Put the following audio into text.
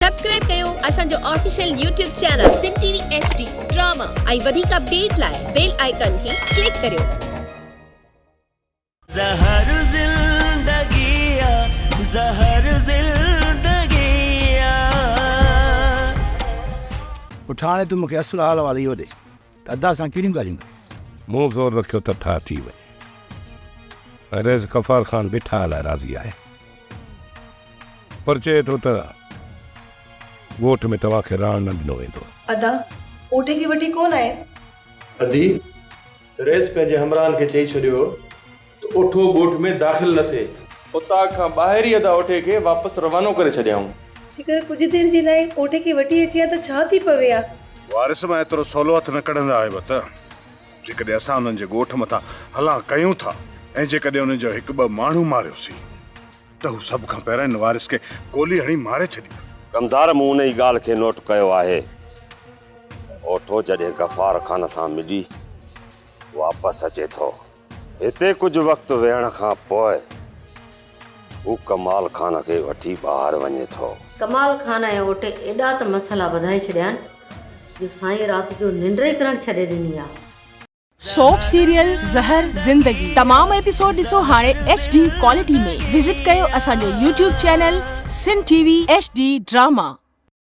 Subscribe ڪيو اسان جو official YouTube channel Sindh T V H D drama ۽ وڌيڪ اپڊيٽ لاء بيل آئيڪان کي ڪلڪ ڪريو. زهر زندگي آ زهر زندگي آ. پٺاڻي تون مونکي اصل حال احوال اهو ڏي. ادا سان ڪهڙيون ڳالهيون ڪيون. مون زور رکيو ته ٺاهه ٿي وڃي ۽ رئيس غفار خان به ٺاهه لاء راضي آهي پر چئي ٿو ته ڳوٺ ۾ توهان کي رهڻ نه ڏنو ويندو. ادا پوٽي کي وٽي ڪونه آهي. ادي، رئيس پنهنجي همراهن کي چئي ڇڏيو هو. ته اوٺو ڳوٺ ۾ داخل نه ٿئي. اتاق کان ٻاهر ئي ادا اوٺي کي واپس روانو ڪري ڇڏيائون. جيڪر ڪجهه دير جي لاء اوٺي کي وٺي اچي ها ته ڇا ٿي پوي ها؟ وارث مان ايترو سولو هٿ نه ڪڍندا آهي به ته جيڪڏهن اسان انهن جي ڳوٺ مٿان هلا ڪيون ٿا ۽ جيڪڏهن انهن جو هڪ ٻه ماڻهو ماريوسين ته هو سڀ کان پهريان ان وارث کي گولي هڻي ماري ڇڏيندا. ڪمدار مون انهي ڳالهه کي نوٽ ڪيو آهي. اوٺو جڏهن غفار خان سان ملي واپس اچي ٿو. هتي ڪجهه وقت ويهڻ کان پوء هو ڪمال خان کي وٺي ٻاهر وڃي ٿو. ڪمال خان ۽ اوٽ ايڏا ته مسئلا وڌائي ڇڏيان جو سائين رات جو ننڊ ئي ڪرڻ ڇڏي ڏني آ. سوپ سيريل زهر زندگي تمام ايپيسوڊ ڏسو هاڻي ايڇ ڊي ڪوالٽي ۾ وزٽ ڪيو اسان جو YouTube channel Sindh T V H D drama.